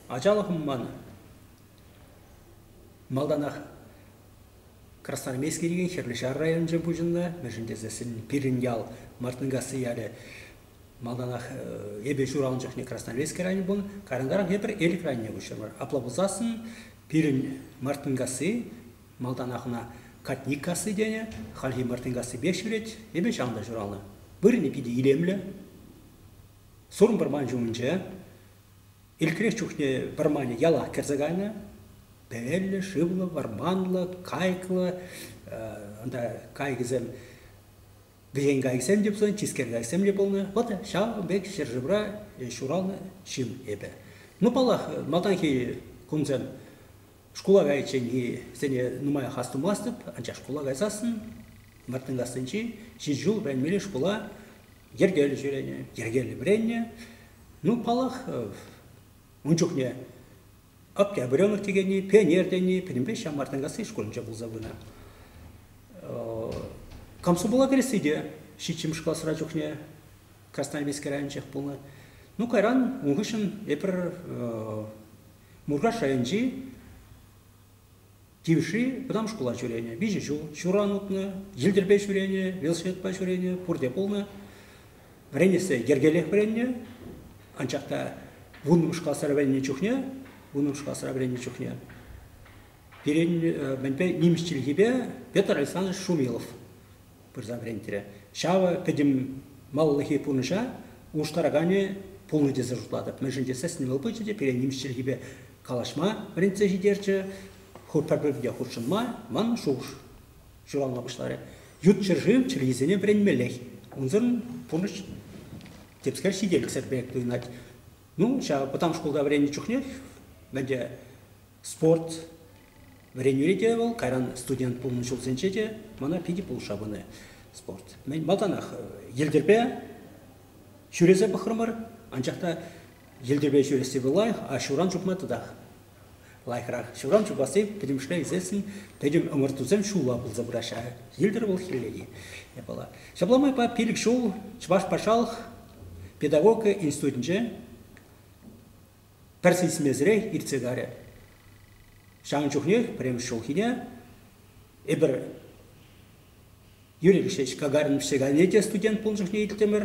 Ачалӑхӑм ман малтанах Красноармейски текен Хӗрлӗ Ҫар районӗнче пуҫӑннӑ, мӗншӗн тесессӗн пирӗн ял Мартынкасси ялӗ малтанах эпӗ ҫуралнӑ чухне Красноармейски районӗ пулнӑ, карянтаран эпир Элӗк районне куҫрӑмӑр. Апла пулсассӑн пирӗн Мартынкасси Малтанах ӑна Катниккасси тенӗ, хальхи Мартынкассипех ҫӳрет. Эпӗ ҫав та ҫуралнӑ. Вырӑнӗ питӗ илемлӗ. Сурӑм вӑрман ҫумӗнче. Ирӗкрех чухне вӑрманӗ яла кӗрсе кайнӑ. Пӗллӗ, шывлӑ, вӑрманлӑ, кайӑклӑ. Унта кайӑкӗсем, вӗҫен кайӑксем те пулсан, тискер кайӑксем те пулнӑ. Вӑт ҫавӑн пек ҫӗршывра ҫуралнӑ ҫын эпӗ. Ну, паллах, малтанхи кунсем Шкула кайичченхи сене нумаях астумастӑп, анчах шкула кайсассӑн Мартынкассинчи ҫич ҫул вӗренмелли шкула йӗркеллӗ ҫӳренӗ, йӗркеллӗ вӗреннӗ. Ну, паллах, ун чухне Октябренок текенни, пионер тени пӗтӗмпех ҫав Мартынкасси шкулӗнче пулса пынӑ. Комсомола кӗресси те ҫиччӗмӗш класра чухне Красноармейски районӗнчех пулнӑ. Ну, кайран ун хыҫҫӑн эпир Муркаш районӗнчи Тивӗшри вӑтам шкула ҫӳренӗ. Виҫӗ ҫул ҫуран утнӑ, йӗлтӗрпе ҫӳренӗ, велосипедпа ҫӳренӗ, пурте пулнӑ. Вӗренессе йӗркелех вӗреннӗ. Анчах та вуннӑмӗш класра вӗреннӗ чухне, вуннӑмӗш класра вӗреннӗ чухне пирӗн мӗнпе нимӗҫ чӗлхипе Петр Александрович Шумилов пырса вӗрентрӗ. Ҫавӑ пӗтӗмаллӑхи пурнӑҫа улӑштараканӗ пулнӑ тесе шутлатӑп. Мӗншӗн тесен вӑл пычӗ те пире нимӗҫ чӗлхипе калаҫма вӗрентсе ҫитерчӗ, пӗр-пӗрне хутшӑнма ман шухӑш ҫуралма пуҫларӗ. Ют ҫӗршыв чӗлхисене вӗренмеллех. Унсӑрӑн пурнӑҫ темскер ҫителӗксӗр пек туйӑнать. Ну, ҫав вӑтам шкулта вӗреннӗ чухнех ӗнтӗ спорт, Вӗренӳре те вӑл, кайран студент пулнӑ ҫулсенче те мана питӗ пулӑшса пынӑ спорт. Мӗн малтанах йӗлтӗрпе ҫӳресе пӑхрӑмӑр, анчах та йӗлтӗрпе ҫӳресси вӑл лайӑх, а ҫуран чупма тӑтах лайӑхрах. Ҫуран чупасси пӗтӗмӗшле ӳсессӗн пӗтӗм ӑмӑртусем ҫулла пулса пыраҫҫӗ. Йӗлтӗр вӑл хӗллехи япала. Ҫапла майпа пилӗк ҫул Чӑваш патшалӑх педагогика институтӗнче пӗр сисмесӗрех иртсе карӗ. Ҫавӑн чухнех пӗрремӗш ҫулхине эпир Юрий Алексеевич Гагарин пӗҫсе кайнине те студент пулнӑ чухне илтӗмӗр.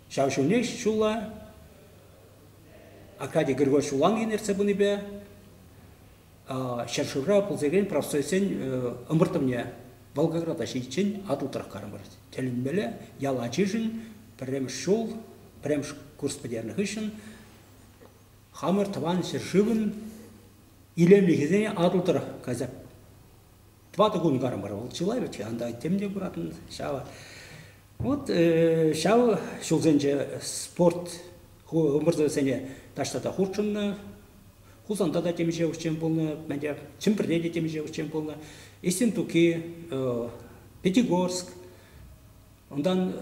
Ҫав ҫулнех ҫулла Аркадий Григорьевич Улангин ертсе пынипе ҫӗршывра пулса профсоюзсен ӑмӑртӑвне Волгограда ҫитиччен атӑлтарах карӑмӑр. Тӗлӗнмелле, ял ачишӗн пӗрремӗш ҫул, пӗрремӗш курс пӗтернӗ хыҫҫӑн хамӑр тӑван ҫӗршывӑн илемлӗхӗсене атӑлтарах кайса Тӑватӑ кун карӑмӑр вӑл чылай вӗт анда тем те куратӑн ҫав. Вот ҫав ҫулсенче спорт ӑмӑртӑвӗсене таҫта та хутшӑннӑ. Хусанта та темиҫе ӗҫчен пулнӑ, мӗнле Чӗмпӗрте те темиҫе ӗҫчен пулнӑ. Истинтуки, Пятигорск, унтан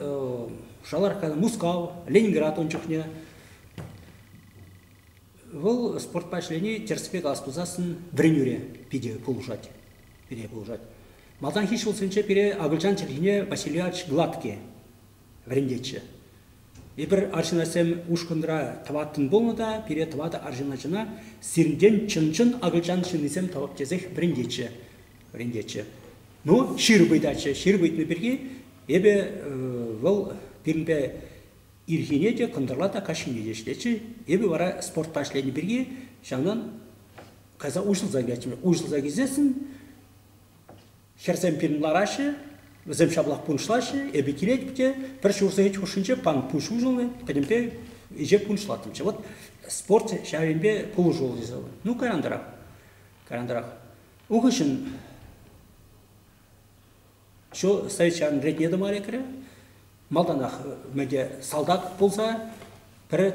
Шаларкка, Мускав, Ленинград ун чухне. Вӑл спортпа ӗҫлени тӗрӗс-пек ас тусассӑн вӗренӳре питӗ пулӑшать. Пире пулӑшать. Малтанхи ҫулсенче пире акӑлчан чӗлхине Васильевич Гладкий вӗрентетчӗ. Эпир арҫынасем ушкӑнра тӑваттӑн пулнӑ та пире тӑватӑ арҫын ачана сирӗнтен чӑн-чӑн акӑлчан ҫыннисем тӑвӑп тесех вӗрентетчӗ. вӗрентетчӗ. Ну, ҫыр ыйтатчӗ. Ҫыр ыйтнӑ пирки эпӗ вӑл пирӗнпе Ирхине те кӑнтӑрла та каҫхине те ӗҫлетчӗ. Эпӗ вара спортпа ӗҫленӗ пирки ҫавнан кайса уҫӑлса килеттӗмӗр. Уҫӑлса килсессӗн хӗрсем пирӗн лараҫҫӗ, вӗсем ҫаплах пунӑҫлаҫҫӗ. Эпӗ килетӗп те пӗр ҫур сехет хушшинче пан пуҫ уҫӑлнӑ, пӗтӗмпе ӗҫе пунӑҫлаттӑмччӗ. Вот спорт ҫавӑнпе пулӑшуллӑ тесе. Ну, кайрантарах, кайрантарах. Ун хыҫҫӑн Ҫу стоичан ретне тӑма лекрӗ. Малтанах мӗнте салтак пулса пӗр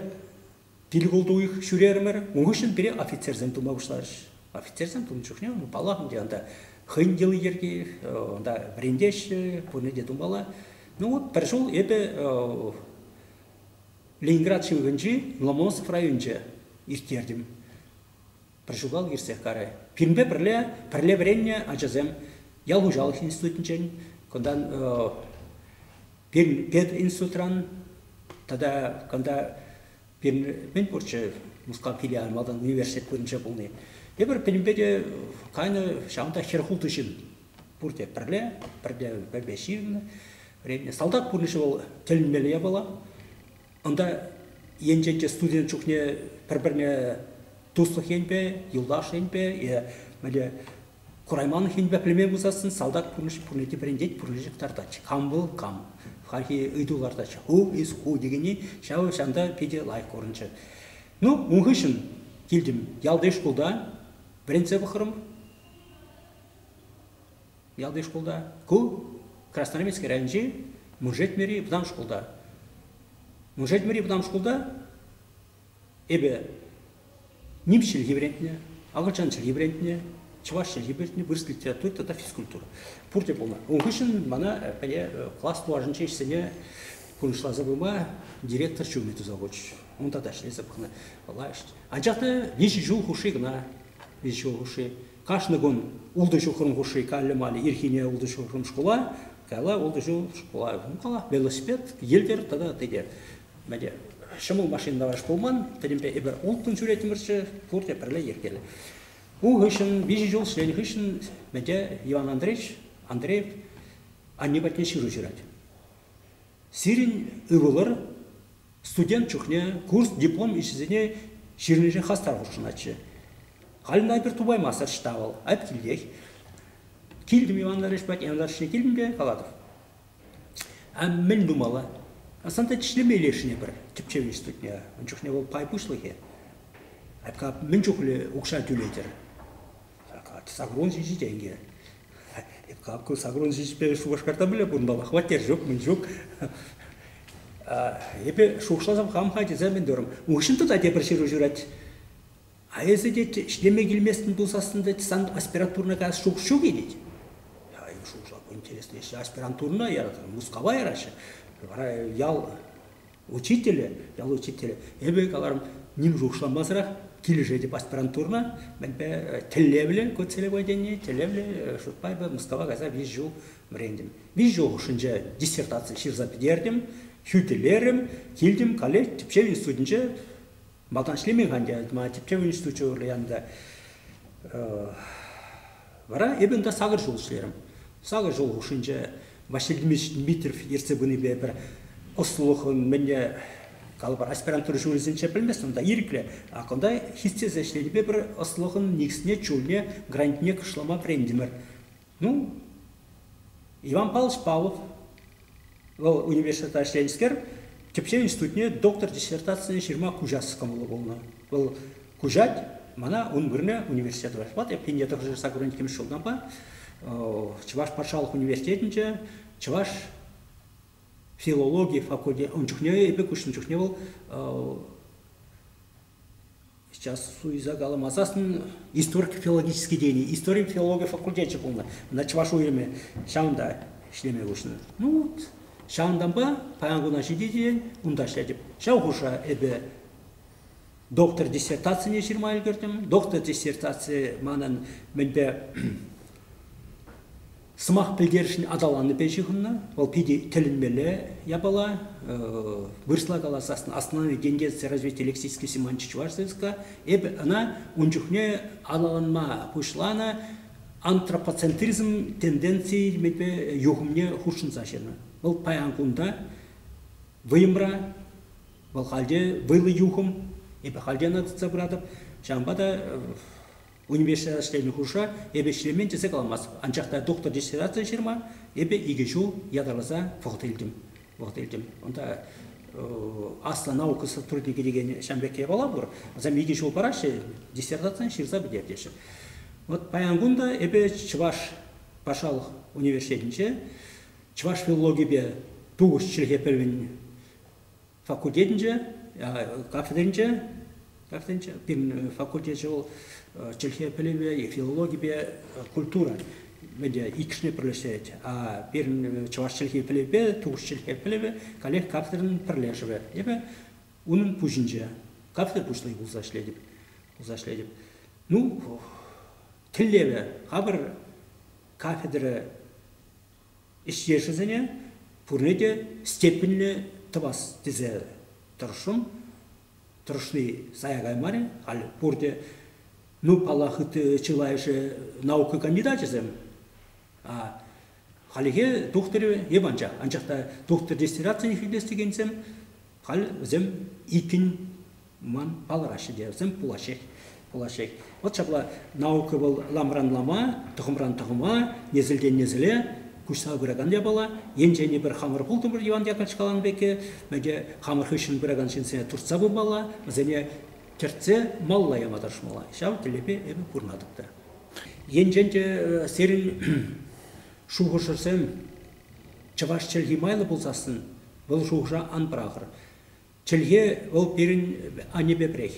пилгулт уйӑх ҫӳрерӗмӗр. Ун хыҫҫӑн пире офицерсем тума пуҫларӗҫ. Офицерсем тунӑ чухне, ну, паллах, ӗнтӗ ӑнта хӑйӗн йӑли-йӗрки, ӑнта вӗрентеҫҫӗ, пурне те тумалла. Ну вот пӗр ҫул эпӗ Ленинград ҫывӑхӗнчи Ломоносов районӗнче ирттертӗм. пӗр ҫулталӑк иртсех карӗ. Пирӗнпе пӗрле пӗрле вӗреннӗ ачасем ял хуҫалӑх институтӗнчен, кунтан пединститутран тата кунта пирӗн мӗн пурччӗ Мускав филиалӗ малтан университет вырӑнче пулни. Тепӗр пирӗнпе те кайнӑ ҫавӑнта хӗр хултӑ ҫын пурте пӗрле, пӗрле пӗрпе ҫывӑннӑ вӗреннӗ. Салтак пурнӑҫӗ вӑл тӗлӗнмелле япала. Унта енченче студент чухне пӗр-пӗрне туслӑх енпе, юлташ енпе е мӗнле курайманлӑх енпе пӗлме пусассӑн салтак пурнӑҫ пурне те вӗрентет, пурне те кӑтартать. Кам вӑл, кам. Хальхи ыйту лартаҫҫӗ. Who is who текенни ҫав ҫанта питӗ лайӑх курӑнчӗ. Ну, ун хыҫҫӑн килтӗм ялти шкулта вӗрентсе пӑхрӑм. Ялти шкулта. Ку Красноармейски районӗнчи Муншетмӗри вӑтам шкулта. Муншетмӗри вӑтам шкулта эпӗ ним чӗлхи вӗрентнӗ, акӑлчан чӗлхи вӗрентнӗ, чӑваш чӗлхи вӗрентнӗ, вырӑс литератури тата физкультура. Пурте пулнӑ. Ун хыҫҫӑн мана пӗле класс тулашӗнчи ӗҫсене пурнӑҫласа пыма директор ҫумӗ туса хучӗ. Унта та ӗҫлесе пӑхнӑ. Анчах та виҫӗ ҫул хушши кӑна, виҫӗ ҫул хушши Кашни кун ултӑ ҫухрӑм хушши каллӗ-маллӗ ирхине ултӑ ҫухрӑм шкула, кала ултӑ ҫул шкула кала, велосипед, йӗлтӗр тата тете. Мӗне ҫӑмӑл машина таварш пулман, пӗтӗмпе эпир улттӑн ҫӳретӗмӗрччӗ, пурте пӗрле йӗркеллӗ. Ку хыҫҫӑн виҫӗ ҫул ӗҫленӗ хыҫҫӑн Мӗте Иван Андреевич Андреев анне патне ҫыру ҫырать. Сирӗн ывӑлӑр Студент чухне курс, диплом ӗҫӗсене чирленсех хастар хутшӑнатчӗ. Халь ӑна эпир тупаймастӑр ӑҫта вӑл, айӑп килтех. Килтӗм Иван Андреевич патне, Иван Андреевич килмӗпе калатӑп. А мӗн тумалла? Асанте ӗҫлеме лешне пӗр тӗпчев институтне. Ун чухне вӑл пай пуҫлӑхӗ. Айӑпка мӗн чухлӗ укҫа тӳлетӗр? Сакрун ҫичӗ тенкӗ. Как сакрун ҫичӗпе Шупашкарта пулӗ кунпа хваттер ҫук, мӗн ҫук. Эпӗ шухӑшласам хам-ха тесе мӗн терӗм. Уҫӑн та тепӗр ҫыру ҫырать. А эсӗ, тет, ӗҫлеме килместӗн пулсассӑн, тет, сан аспирантурӑна каяс шухӑш ҫук-и, тет. Я шушлап интересно, если аспирантурна яратыр, Мускава яраҫҫӗ. Вара ял Учителӗ, ял учителӗ, эпӗ каларӑм, ним шухӑшламасӑрах килӗшетӗп аспирантурӑна. Мӗнпе тӗллевлӗ ку целеводение, тӗллевлӗ шутпа эпӗ Мускава кайса виҫӗ ҫул вӗрентӗм. Виҫӗ ҫул хушшинче диссертаци ҫырса пӗтертӗм, хӳтӗлерӗм, килтӗм, каллех тӗпчев институтӗнче Малтан ӗҫлемен-ха ӗнтӗ, мана тӗпчев институчӗ урлӑ янӑ та. Вара эпӗ унта сакӑр ҫул ӗҫлерӗм. Сакӑр ҫул хушшинче Василий Дмитриевич Дмитриев ертсе пынипе пӗр ӑслӑлӑхӑн мӗнне калӑпӑр, аспирантура ҫулӗсенче пӗлместӗм та ирӗклӗ, а кунта хистесе ӗҫленипе пӗр ӑслӑхӑн никӗсне, чулне, грантне кӑшлама вӗрентӗмӗр. Ну, Иван Павлович Павлов, вӑл университетта ӗҫленӗскер, тӗпчев институтне доктор диссертацине ҫырма куҫас кӑмӑллӑ пулнӑ. Вӑл куҫать, мана ун вырӑнӗ университет вырать. Вот эп пине тӑрӑшса куран иккӗмӗш ҫултанпа Чӑваш патшалӑх университетӗнче чӑваш филологи факультетӗ ун чухне эпӗ куҫнӑ чухне вӑл Сейчас суйса каламасассӑн историк филологический тени, историн филологи факультечӗ пулнӑ. Мана чӑваш уйрӑмӗ ҫавӑнта ӗҫлеме хушнӑ. Ну вот, ҫавӑнтанпа паян куна ҫитекен унта ӗҫлетӗп. Ҫав хушӑра эпӗ доктор диссертацине ҫырма ӗлкӗртӗм. Доктор диссертаци манӑн мӗнпе Сӑмах пӗлтерӗшӗн аталаннипе ҫыхӑннӑ. Вӑл питӗ тӗлӗнмелле япала. Вырӑсла каласан «Основные тенденции развития лексической семантики чувашского языка». Эпӗ ӑна ун чухне аталанма пуҫланӑ. Антропоцентризм тенденцийӗ илемӗпе юхӑмне хутшӑнса ҫырнӑ. Вӑл паян кунта вӑйӑмра, вӑл халь те вӑйлӑ юхӑм. Эпӗ халь те ӑна тытса пыратӑп. Ҫавӑнпа та Университета ӗҫленӗ хушӑра эпӗ ӗҫлемен тесе каламастӑп, анчах та доктор диссертацие ҫырма эпӗ икӗ ҫул ятарласа вӑхӑт илтӗм. Вӑхӑт илтӗм. Унта аслӑ наука сотрудникӗ текен ҫам пек япала пур. Вӗсем икӗ ҫул параҫҫӗ, диссертацие ҫырса пӗтер теҫҫӗ. Вот паян кун та эпӗ Чӑваш патшалӑх университетӗнче чӑваш филологипе тухӑҫ чӗлхе пӗлӗвӗн факультетӗнче, кафедринче, кафедринче пирӗн факультечӗ вӑл чӗлхе пӗлӗвӗ е филологипе культура ӗнтӗ иккӗшне пӗрлештерет. А пирӗн чӑваш чӗлхи пӗлӗвӗпе тупӑш чӗлхе пӗлӗвӗ каллех кафедрӑн пӗрлешӗвӗ. Эпӗ унӑн пуҫӗнче кафедра пуҫлӑхӗ пулса ӗҫлетӗп. Пулса ӗҫлетӗп. Ну, тӗллевӗ, хамӑр кафедра ӗҫтешӗсене пурне те степеньлӗ тӑвас тесе тӑрӑшрӑм. Тӑрӑшни сая каймарӗ. Халь пурте, ну, паллах, ытти чылайӑшӗ наука кандидачӗсем. Хальлӗхе тухтӑрӗ эп анчах. Анчах та тухтӑр диссертацине хӳтлес текенсем халь вӗсем иккӗн Ман палӑраҫҫӗ те вӗсем пулаҫҫех. Пулаҫҫех. Вӑт ҫапла наука вӑл ламран-лама, тӑхӑмран-тӑхӑма, несӗлтен-несӗле куҫса пыракан япала. Енчен эпир хамӑр пултӑмӑр Иван Яковлевич каланӑ пекки, те хамӑр хыҫҫӑн пыракан ҫынсене туртса пымалла, вӗсене тӗртсе малла яма тӑрӑшмалла. Ҫав тӗллевпе эпӗ курӑнатӑп та. Енчен те э, сирӗн шухӑшӑрсем чӑваш чӗлхи майлӑ пулсассӑн, вӑл шухӑша ан пӑрахӑр. Чӗлхе вӑл пирӗн аннепе пӗрех.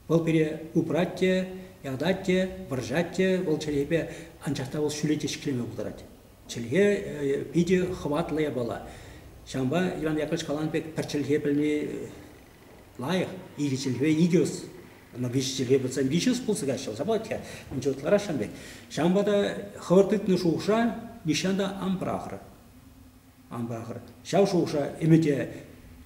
Вӑл пире упрать те, ятать те, вӑрҫать те, вӑл чӗлхепе, анчах та вӑл ҫӳле те ҫӗклеме пултарать. Чӗлхе питӗ хӑватлӑ япала. Ҫавӑнпа Иван Яковлевич каланӑ пек пӗр чӗлхе пӗлни лайӑх. Икӗ чӗлхе икӗ ӑс. Ӑна виҫӗ чӗлхе пӗлсен виҫӗ ӑс пулса каҫҫӗ, ӑса пулать-ха. Мӗншӗн ытларах ҫавӑн пек. Ҫавӑнпа та хӑвӑр тытнӑ шухӑша нихҫан та ан пӑрахӑр. Ахӑр, ҫав шухӑша ӗмӗте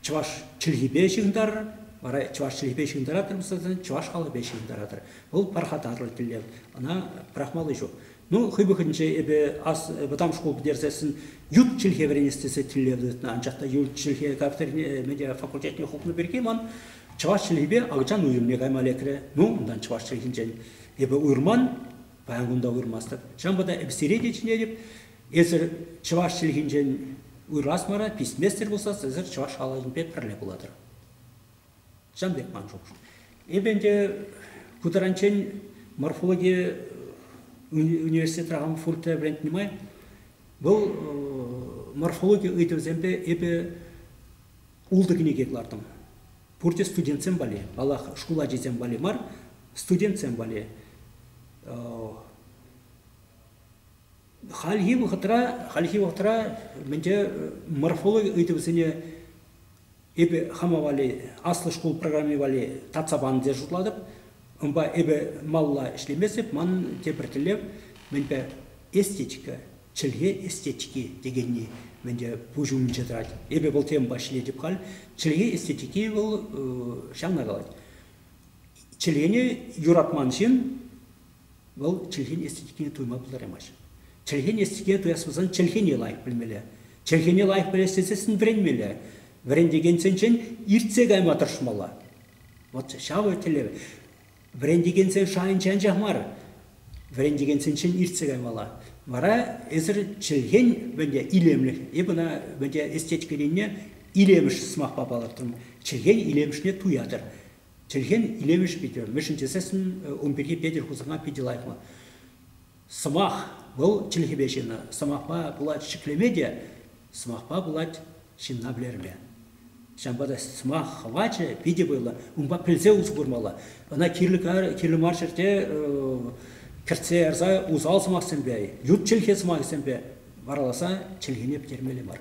чӑваш чӗлхипе ҫыхӑнтаратӑр, вара чӑваш чӗлхипе ҫыхӑнтаратӑр, мисалтан чӑваш халӑхӗпе ҫыхӑнтаратӑр. Вӑл пархатарлӑ тӗллев, ӑна пӑрахмалли ҫук. Ну, хӑй вӑхӑтӗнче эпӗ ас вӑтам шкул пӗтерсессӗн ют чӗлхе вӗренес тесе тӗллев тытнӑ, анчах та ют чӗлхе кафедрине медиафакультетне хупнӑ пирки ман чӑваш чӗлхипе акӑлчан уйрӑмне кайма лекрӗ. Ну, унтан чӑваш чӗлхинчен эпӗ уйрӑман, паян кунта уйрӑмастӑп. Ҫавӑнпа та эпӗ сире те чӗнетӗп, Эсир чӑваш чӗлхинчен уйрӑлас мара, писместӗр пулсас, эсир чӑваш халӑхӗнпе пӗрле пулатӑр. Ҫавӑн пек ман шухӑш. Эпӗ ӗнтӗ ку таранччен морфологи университетра хам фуртра вӗрентнӗ май вӑл морфологи ыйтӑвӗсемпе эпӗ ултӑ кӗнеке кӑлартӑм. Пурте студентсем валли, паллах, шкул ачисем валли мар, студентсем валли. Хальхи вӑхӑтра, хальхи вӑхӑтра мӗнче морфологи ыйтӑвӗсене эпӗ хама валли аслӑ шкул программи валли татса панӑ тесе шутлатӑп. Унпа эпӗ малалла ӗҫлемесіп, манӑн тепӗр тӗллев мӗнпе эстетика, чӗлхе эстетики текенни мӗнче пуҫ умӗнче тӑрать. Эпӗ вӑл темӑпа ӗҫлетӗп халь. Чӗлхе эстетики вӑл ҫавна калать. Чӗлхене юратман ҫын Вӑл чӗлхен эстетикине туйма пултараймасть. Чӗлхен эстетикине туяс пулсан чӗлхене лайӑх пӗлмелле. Чӗлхене лайӑх пӗлес тесессӗн вӗренмелле. Вӗрентекенсенчен иртсе кайма тӑрӑшмалла. Вот ҫавӑ тӗллев. Вӗрентекенсен шайӗнче анчах мар, вӗрентекенсенчен иртсе каймалла. Вара эсир чӗлхен вӗнте илемлӗх, эп ӑна вӗнте эстетикӑн енне илемӗш сӑмахпа палӑртрӑм, чӗлхен илемӗшне туятӑр. Чӗлхен илемӗш питӗ, мӗншӗн тесессӗн ун пирки Петӗр Хусана питӗ лайӑх мар. Сӑмах вӑл чӗлхепе ҫынна, сӑмахпа пулать ҫӗклеме те, сӑмахпа пулать ҫынна вӗлерме. Ҫавӑнпа та сӑмах хӑвачӗ питӗ вӑйлӑ. Унпа пӗлсе усӑ курмалла. Ӑна кирлӗ, кирлӗ мар ҫӗрте кӗртсе ярса усал сӑмахсемпе, ют чӗлхе сӑмахӗсемпе вараласа чӗлхене пӗтермелле мар.